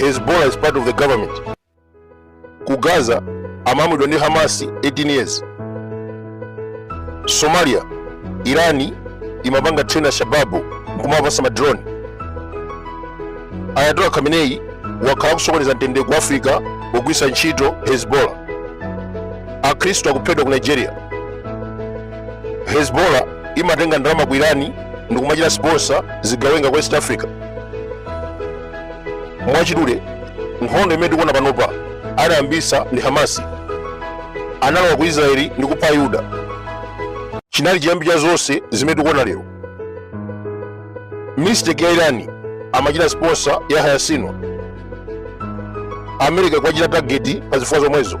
hezbollah is part of the government ku gaza amalamulidwa ndi hamasi 18 years somalia irani imapanga train al shababu nkumawapatsa madrone ayatola khamenei wakhala akusokoneza mtendere ku africa pogwiritsa ntchito hezbollah akhristu akuphedwa ku nigeria hezbollah imatenga ndalama ku irani ndikumachita sponsor zigawenga ku west africa mwachidule nkhondo imene tikuona panopa anayambisa ndi hamasi analowa ku israeli ndi kupha ayuda chinali chiyambi cha zonse zimene tikuona lero mistake ya irani amachita sponsor yahya sinwar america akuwachita tageti pa zifukwa zomwezo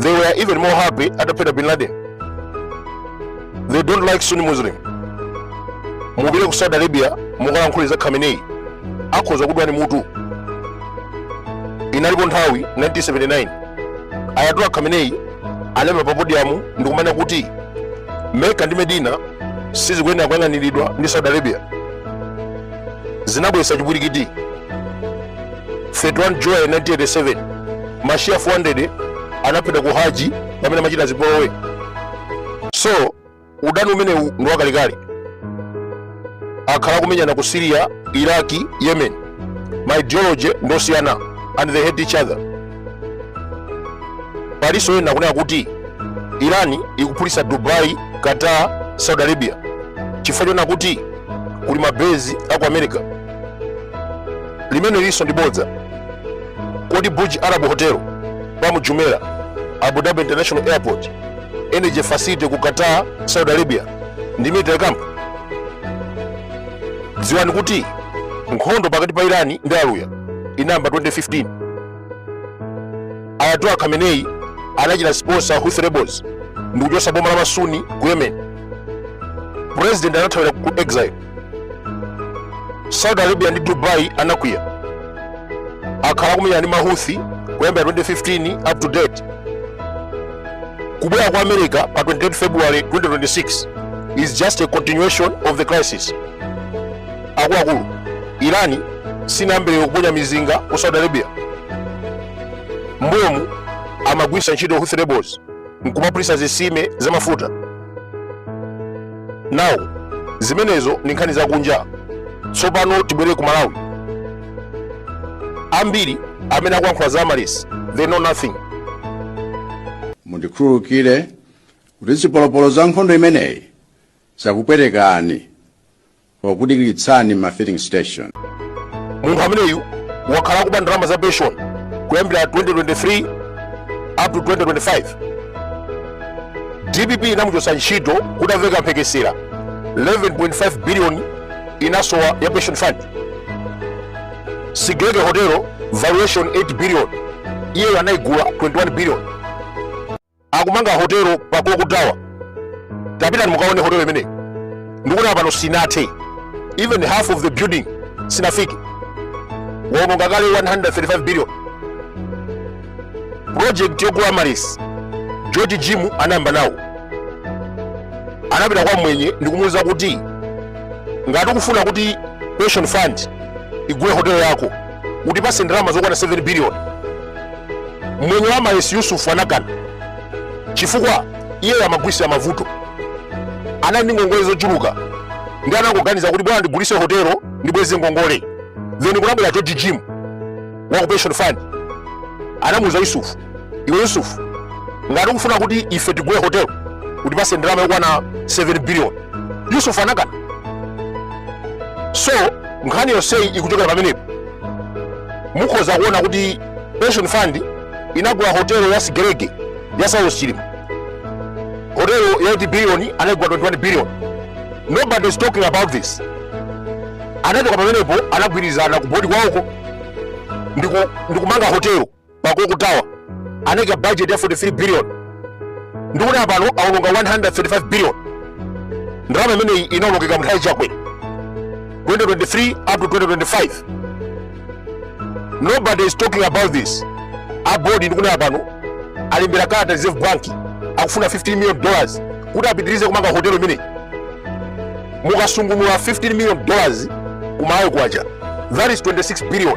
They were even more happy ataphedwa Bin Laden. They don't like Sunni Muslim. Mupite ku Saudi Arabia mukalankhule za Khamenei akhoza kudulani mutu. Inalipo nthawi 1979 Ayatollah Khamenei anaima pa podium ndikumanena kuti Mecca ndi Medina sizikuyenera kuyang'aniridwa ndi Saudi Arabia. Zinabwesa chipwirikiti 31 July 1987 mashia 400 anaphedwa ku haji pamene amachita zipolowe so udani umenewu ndi wakalekale akhala akumenyana ku syria iraki yemen ma ideology ndi osiyana and they hate each other palinso ena akunena kuti irani ikuphulitsa dubai qatar saudi arabia chifukwa chonena kuti kuli mabezi aku america limene lilinso ndi bodza kodi burj arab hotel palm jumeirah abu dhabi international airport energy facility ku qatar saudi arabia ndi military camp dziwani kuti nkhondo pakati pa irani ndi aluya inayamba 2015 ayatola khamenei anachita sponsor houthi rebels ndi kuchotsa boma la masuni ku yemen president anathawira ku exile saudi arabia ndi dubai anakwiya akhala akumenyana ndi mahuthi kuyambira 2015 up to date kubwera kwa america pa 28 february 2026 is just a continuation of the crisis akuluakulu irani sinayambe lero kuponya mizinga ku saudi arabia mbuyomu amagwiritsa ntchito houthi rebels nkumaphulitsa zisime za mafuta now zimenezo ndi nkhani zakunja tsopano tibwere ku malawi ambiri amene akuyankhula za amaryllis they know nothing mundikhululukire kuti zipolopolo za nkhondo imeneyi zakupwetekani pokudikiritsani m'ma filling station. Munthu ameneyu wakhala akuba ndalama za pension kuyambira 2023 up to 2025. DPP inamuchotsa ntchito kutamveka mphekesera 11.5 billion inasowa ya pension fund. Sigerege Hotel valuation 8 billion, iyeyo anaigula 21 billion. akumanga hotelo pa clock tower tapitani mukaone hotelo imeneyi ndikunena pano sinathe even half of the building sinafike waononga kale 135 billion project yogula amaryllis george jim anayamba nawo anapita kwa mwenye ndikumuuza kuti ngati ukufuna kuti pension fund igule hotelo yako utipase ndalama zokwana 7 biliyoni mwenye wa amaryllis yusufu anakana chifukwa iyeyo amagulisira mavuto anali ndi ngongole zochuluka nde anangoganiza kuti bola ndigulise hotelo ndibweze ngongole then kunabwera george jim wa ku pension fund anamuuza yusufu iwe yusufu ngati ukufuna kuti ife tigule hotelo utipase ndalama yokwana 7 billion yusufu anakana so nkhani yonseyi ikuchokera pamenepo mukhoza kuona kuti pension fund inagula hotelo ya sigerege ya saulos chilima hotelo ya 8 billion anaigula 21 billion nobody is talking about this anachoka pamenepo anagwirizana ku bodi kwawoko ndikumanga hotelo pa clock tower anaika budget ya 43 billion ndikunena pano aononga 135 billion ndalama imeneyi inaonongeka mu nthawi ya chakwera 2023 up to 2025 nobody is talking about this abodi ndikunena pano alembera kalata reserve bank akufuna 15 million dollars kuti apitirize kumanga hotelo imeneyi mukasungunula 15 million dollars ku malawi kwacha that is 26 billion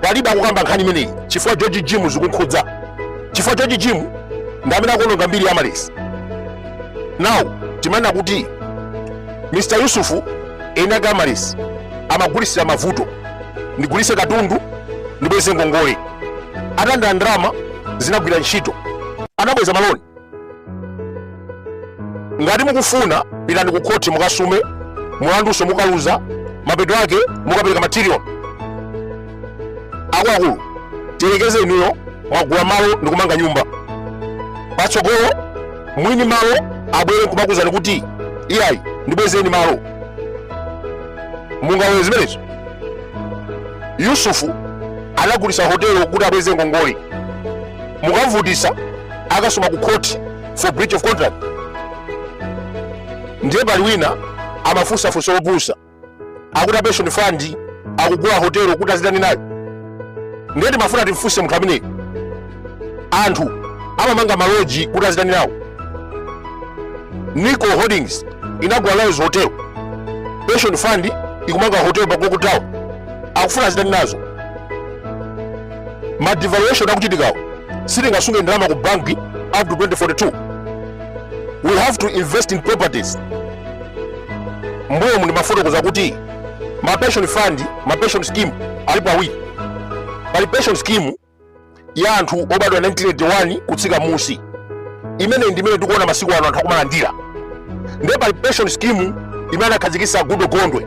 palibe akukamba nkhani imeneyi chifukwa george jim zikumkhudza chifukwa george jim ndi amene akuononga mbiri ya amaryllis now timanena kuti mr yusufu eni ake amaryllis amagulisira mavuto ndigulise katundu ndibweze ngongole atalandira ndalama zinagwira ntchito anabweza maloni ngati mukufuna pitani ku khoti mukasume mulandunso mukaluza mapeto ake mukapereka ma trillion akuluakulu tiyerekeze inuyo mwagula malo ndi kumanga nyumba patsogolo mwini malo abwere nkumakuuzani kuti iyayi ndibwezeni malo mungalole zimenezo yusufu anagulisa hotelo kuti abweze ngongole mukamvutisa akasuma ku court for breach of contract ndiye pali wina amafunsa funso lopusa akuti pension fund akugula hotelo kuti azitani nayo ndiye timafuna timfunse munthu ameneyi anthu amamanga maloji kuti azitani nawo nico holdings inagula ryalls hotel pension fund ikumanga hotel pa clock tower akufuna azitani nazo ma devaluation akuchitikawo sitingasunge ndalama ku banki up to 2042 we have to invest in properties mbuyomu ndimafotokoza kuti ma pension fund ma pension scheme alipo awiri pali pension scheme ya anthu obadwa 1981 kutsika musi imeneyi ndi imene tikuona masiku ano anthu akumalandira ndiye pali pension scheme imene anakhazikitsa goodall gondwe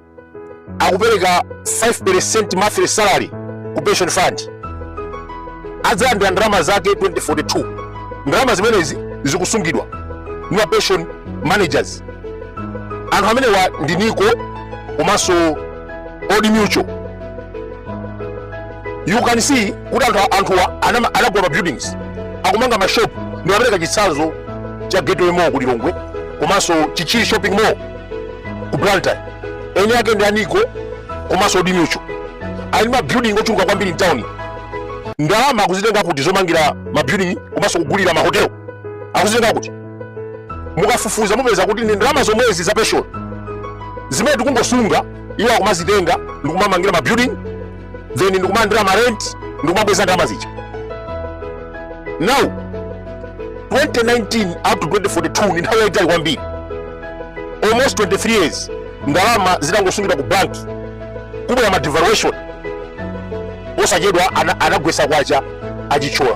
akupereka 5% monthly salary ku pension fund adzalandira ndalama zake 2042 ndalama zimenezi zikusungidwa ndi ma pension managers anthu amenewa ndi nico komanso old mutual you can see kuti anthuwa anagula ma buildings akumanga ma shop ndimapereka chitsanzo cha gateway mall ku lilongwe komanso chichiri shopping mall ku blantyre eni ake ndi a nico komanso old mutual ali ndi mabuilding ochuluka kwambiri mtawuni ndalama akuzitenga kuti zomangira mabuilding komanso kugulira mahotelo akuzitenga kuti mukafufuza mupeza kuti ndi ndalama zomwezi za pension zimene tikungosunga iwo akumazitenga ndikumamangira mabuilding then ndikumalandira ma rent ndikumabweza ndalama zija now 2019 up to 2042 ndi nthawi yaitali kwambiri almost 23 years ndalama zitangosungidwa ku banki kubwera ma devaluation posachedwa ana- anagwesa kwacha a chithyola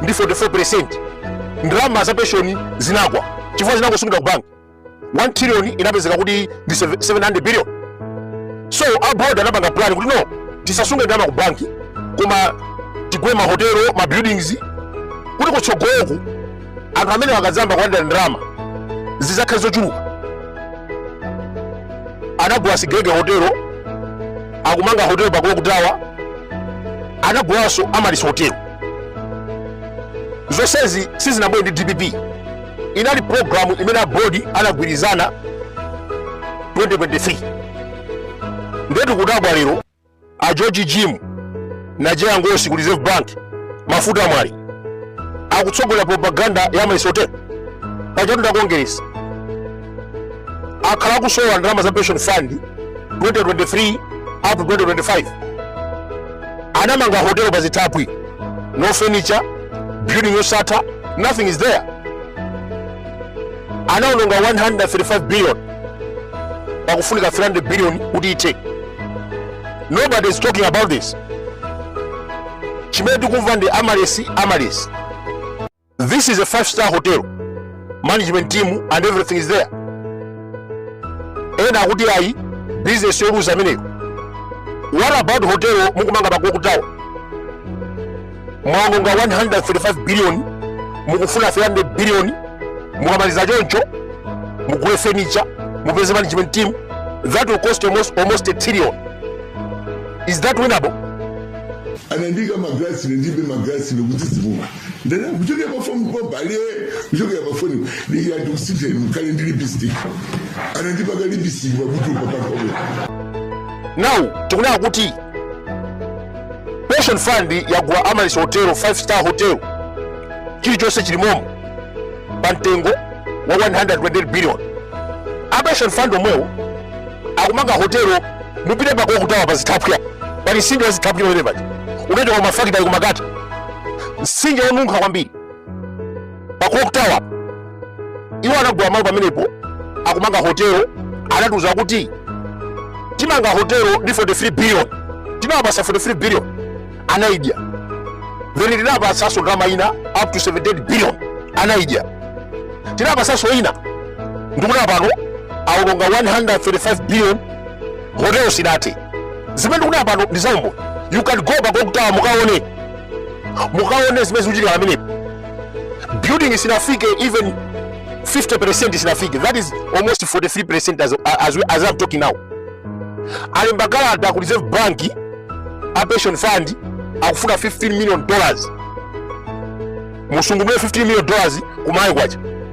ndi 44% ndalama za penshoni zinagwa chifukwa zinangosungidwa ku banki 1 trillion inapezeka kuti ndi 700 billion so a board anapanga plan kuti no tisasunge ndalama ku banki koma tigule mahotelo ma buildings kuti kutsogoloku anthu amene akadzamba kulandira ndalama zidzakhale zochuluka anagula sigelege hotelo akumanga hotelo pa clock tower anagulanso amaryllis hotelo zonsezi sizinabwere ndi dpp inali programu imene a board anagwirizana 2023 ndiyetu kudabwa lero a george jim najeya ngosi ku reserve bank mafuta mwale akutsogolera propaganda ya amaryllis hotel pachatu ndakongeresa akhala akusolola ndalama za pension fund 2023 up to 2025 anamanga hotelo pa zithaphwi no furniture building yosatha nothing is there anaononga 135 billion pakufunika 300 billion kuti ithe nobody is talking about this chimene tikumva ndi Amaryllis Amaryllis This is a five star hotel. Management team and everything is there. Ena akuti ayi business yoluza ameneyo. What about hotel mukumanga pa Clock Tower? Mwaononga 135 billion mukufuna 300 billion mukamaliza choncho mugule furniture mupeze management team that will cost almost, almost a trillion. Is that winnable? anandiika magalasi ine ndilibe magalasi nekuti zimuma ndana kuchokera pa fomu kwa bale kuchokera pa foni ndiye andikusiteni mukhale ndi lipstick anandipaka lipstick pakuti upapakome now tikunena kuti pension fund yagula Amaryllis hotel 5 star hotel chilichonse chilimomo pa mtengo wa 128 billion a pension fund omwewo akumanga hotelo mupite pa Clock Tower pa zithaphwi pali msinje wa zithaphwi pamene paja unachoka ku mafakitale ku Makata msinje wonunkha kwambiri pa clock tower iwo anagula malo pamenepo akumanga hotelo anatiuza kuti timanga hotelo ndi 43 billion tinawapasa 43 billion anaidya then tinapasaso ndalama ina up to 78 billion anaidya tinapasaso ina ndikunena pano aononga 135 billion hotelo sinathe zimene ndikunena pano ndi zaumboni you can go pa Clock Tower mukaone mukaone zimene zikuchitika pamenepo building isinafike even 50% isinafike that is almost 43% as, as, we- as I'm talking now alemba kalata ku reserve bank a pension fund akufuna 15 million dollars musungunule 15 million dollars ku Malawi kwacha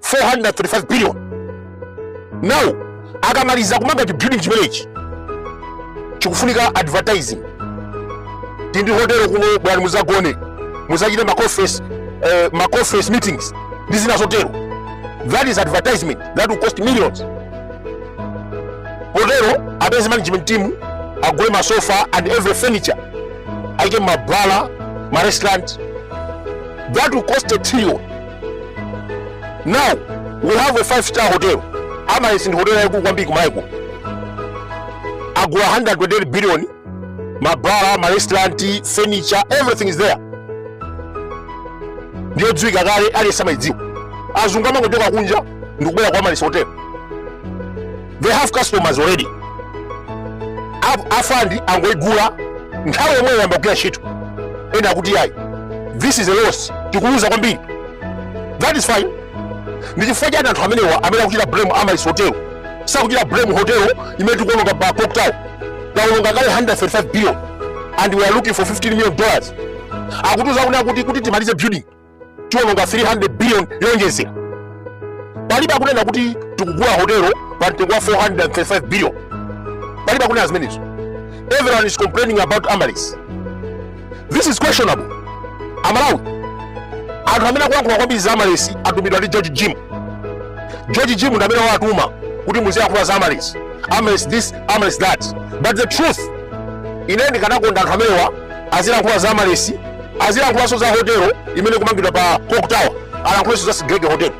435 billion now akamaliza kumanga chibuilding chimenechi chikufunika advertising tindi hotelo kuno bwerani muzagone muzachite maconference eh, maconference meetings ndi zina zotero that is advertisement that will cost millions potero apeze management team agule masofa and every furniture aike mabala marestaurant that will cost a trillion now we have a five star hotel amaryllis ndi hotel yaikulu kwambiri kumalawi kuno agula 128 billion mabara marestaurant furniture everything is there ndiyodziwika kale aliyense amayidziwa azungu amangochoka kunja ndikubwera kwa amaryllis hotel they have customers already A- a fund angoigula nthawi yomweyo ayamba kugwira ntchito ena akuti ayi this is a loss tikuluza kwambiri that is fine ndi chifukwa chani anthu amenewa amene akuchita blame amaryllis hotel sakuchita blame hotel imene tikuononga pa clock tower taononga kale 135 billion and we are looking for 15 million dollars akutiuza kuti akuti kuti timalize building tiwononga 300 billion yowonjezera palibe akunena kuti tikugula hotelo pa mtengo wa 435 billion palibe akunena zimenezo everyone is complaining about amaryllis this is questionable amalawi anthu amene akulankhula kwambiri za amaryllis atumidwa ndi george jim george jim ndi amene wawatuma kuti muziyankhula za amaryllis amaryllis this amaryllis that but the truth ine ndikanakonda anthu amenewa azilankhula za amaryllis azilankhulanso za hotelo imene ikumangidwa pa clock tower alankhulenso za sigelege hotelo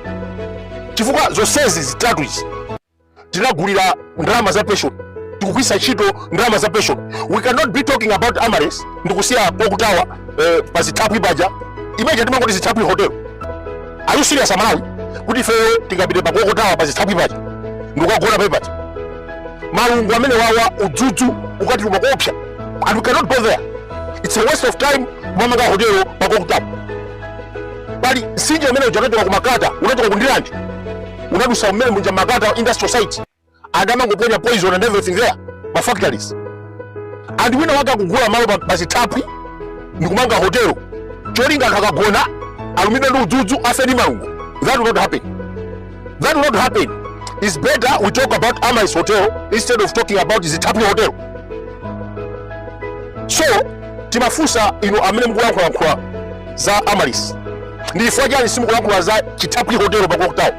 chifukwa zonsezi zitatu izi tinagulira ndalama za pension tikugwiritsa ntchito ndalama za pension we cannot be talking about amaryllis ndikusiya clock tower eh, pa zithaphwi paja imene timangoti zithaphwi hotel Are you serious aMalawi? Kuti ife tingapite pa Clock Tower pa zithaphwi paja. Ndikukagona pa paja. Malungo amene wawa udzudzu ukatiluma koopsa. And we cannot go there. It's a waste of time kumamanga hotel pa Clock Tower. Pali mtsinje umene uja unachoka ku Makata, unachoka ku Ndirande. Unadutsa mmene muja Makata industrial site. and amangoponya poison and everything there ma factories and wina wake akugula malo pa- pazithaphwi ndikumanga hotelo cholinga anthu akagona alumidwe ndi udzudzu afe ndi malungo that will not happen that will not happen it's better we talk about amaryllis hotel instead of talking about zithaphwi hotel so timafunsa inu amene mukulankhulalankhula za amaryllis ndi chifukwa chani simukulankhula za chithaphwi hotel pa clock tower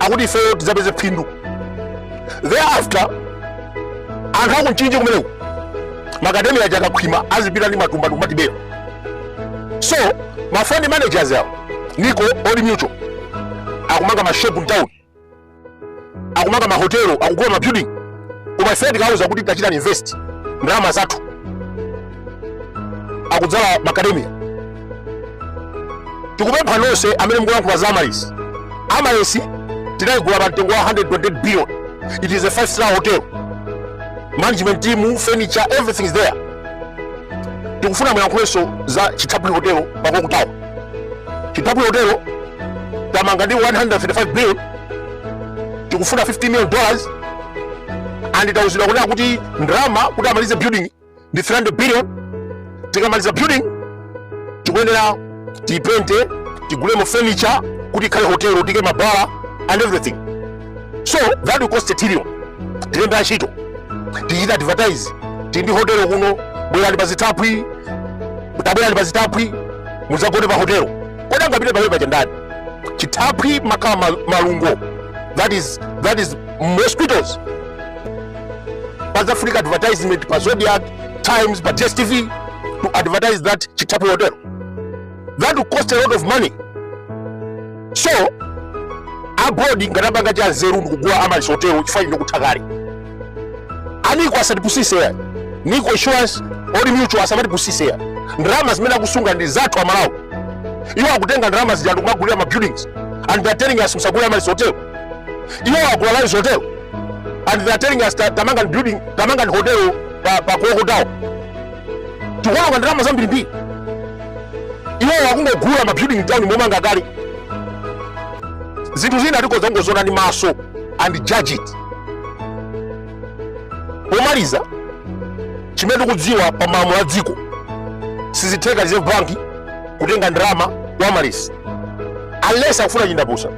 akuti ifeyo tidzapeze phindu thereafter anthu akumchinji kumeneko macadamia aja akakhwima azipita ndi matumba ndikumatibera so ma fund managers awo nico old mutual akumanga mashop mtown akumanga mahotelo akugula mabuilding koma ifeyo tikawauza kuti tachitani invest ndalama zathu akudzala macadamia tikupempha nonse amene mukulankhula za amaryllis amaryllis tinayigula pa mtengo wa 128 billion it is a five star hotel management team furniture everything is there tikufuna muyankhulenso za chithaphwi hotel pa clock tower chithaphwi hotel tamanga ndi 135 billion tikufuna 50 million dollars and tauzidwa kunena kuti ndalama kuti amalize building ndi 300 billion tikamaliza building tikuyenera tipente tigulemo furniture kuti ikhale hotel tiike mabala and everything so that will cost a trillion tilembe antchito tichita advertise tili ndi hotel kuno bwerani pa zithaphwi tabwerani pa zithaphwi mudzagone pa hotel kodi angapite pamene paja ndani chithaphwi makhala ma- malungo that is, that is mosquitoes pazafunika advertisement pa zodiak times pa dstv to advertise that chithaphwi hotel that will cost a lot of money so a board ngati apanga cha nzeru ndikugula amaryllis hotel chifukwa ndi yokutha kale a nico asatipusise ya nico insurance old mutual asamatipusise ya ndalama zimene akusunga ndi zathu amalawi iwo akutenga ndalama zija ndikumagulira ma buildings and they're telling us musagule amaryllis hotel iwo akugula ryalls hotel and they are telling us ta- tamangani building tamangani hotel pa pa clock tower tikuononga ndalama zambirimbiri iwowo akungogula ma building town momanga kale zinthu zina tikhoza kungoziona ndi maso and judge it pomaliza chimene tikudziwa pa malamulo a dziko sizitheka reserve bank kutenga ndalama kwa amaryllis unless akufuna chindapusa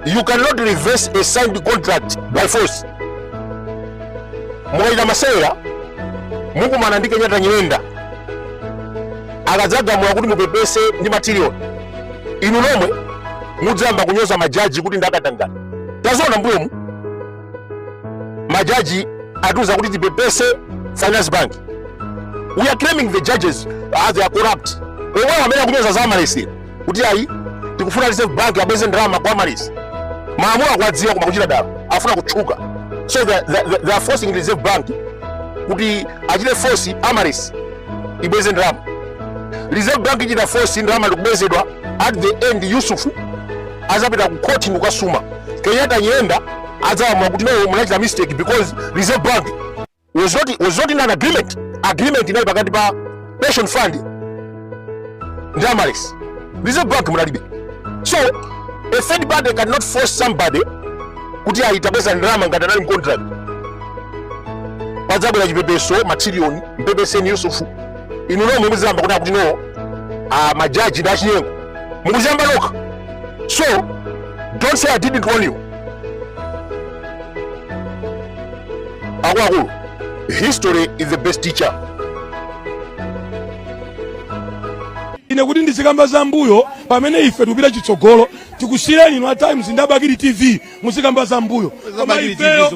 you cannot reverse a signed contract by force mukachita masewera mukumana ndi kenyatta nyirenda akadzagamula kuti mupepese ndi ma trillion inu nomwe mudzayamba kunyoza majaji kuti ndi akatangale taziona mbuyomu majaji atiuza kuti tipepese finance bank we are claiming the judges as they are corrupt omwewo amene akunyoza za amaryllis kuti ayi tikufuna reserve bank abweze ndalama kwa amaryllis malamulo akuwadziwa koma kuchita dala afuna kutchuka so they, they, they- they are forcing reserve bank kuti achite force amaryllis ibweze ndalama reserve bank ichita force ndalama ikubwezedwa at the end yusufu azapita ku court ndikukasuma kenyatta nyirenda adzalamula kuti no munachita mistake because reserve bank was not was not in an agreement agreement inali pakati pa pension fund ndi amaryllis reserve bank munalibe so a third party cannot force somebody kuti azitabweza ndalama ngati anali mcontract padzabwera chipepeso matriliyoni mupepeseni yusufu inu nomwe mukuziyamba kuti akuti no ah, majaji ndi achinyengo mukuziyamba nokha so don't say i didn't warn you akuluakulu history is the best teacher ine kuti ndizikamba za mbuyo pamene ife tikupita chitsogolo tikusiyireni inu a times ndi a bakili tv muzikamba za mbuyo koma ifeyo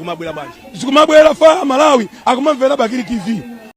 zikumabwera faya amalawi akumamvera bakili tv